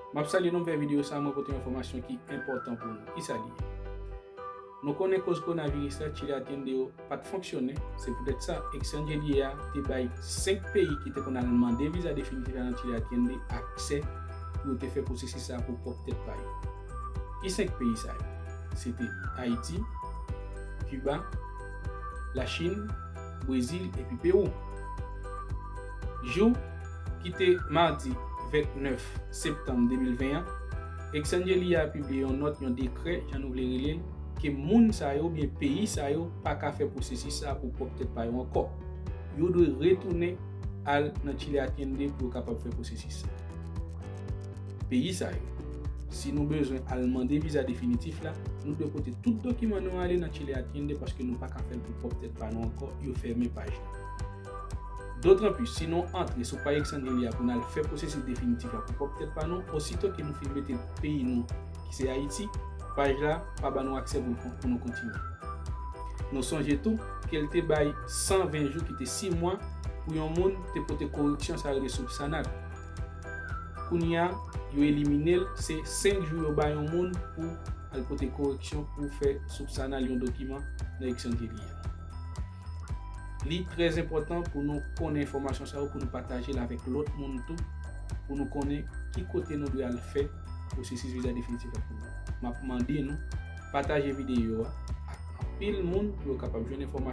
Map salye nou m fè video sa mwen pote yon enfòmasyon ki enpòtan pou nou kisa li ye? Nou konnen koz konaviris la chile atiende yo pat fonksyone se poutèt sa exangelie a te bay 5 peyi ki te konn al mande viza definitif la nan chile atiende aksè pou yo te fè pwosesis sa pou pwòp tèt pa yo ki 5 peyi sa yo se te ayiti kiba lachin brezil epi pewou. Jou ki te madi 29 septanm 2020 an, Exsangelli a pibliye yon nòt, yon dekrè, jan nou vle rele l, ke moun sa yo oubyen peyi sa yo pa ka fè pwosesis sa a pou pwòp tèt pa yo ankò. Yo dwe retounen al nan Chile Atiende pou yo kapab fè pwosesis sa a. Peyi sa yo, si nou bezwen al mande viza definitif la, nou dwe pote tout dokiman nou ale nan Chile Atiende paske nou pa ka fè l pou pwòp tèt pa nou ankò, yo fèmen paj la. Dotranplis, si nou antre sou pay eksange li a pou n al fè pwosesis definitif la pou pwòp tèt pa nou, osito ke nou fin mete peyi nou ki se Ayiti, paj la pa ba nou aksè pou nou kontinye. Nou sonje tou ke l te bay 120 jou ki te 6 mwa pou yon moun te pote koreksyon sa rele soupsanad. Kounye a, yo elimine l, se 5 jou yo ba yon moun pou al pote koreksyon pou fè soupsanal yon dokiman nan eksange li a. Li trè enpòtan pou nou konnen enfòmasyon sa yo pou nou pataje l avèk lòt moun tou pou nou konnen ki kote nou dwe al fè pwosesis viza definitif la pou nou. M ap mande nou pataje videyo a ak anpil moun pou yo kapab jwenn enfòmasyon.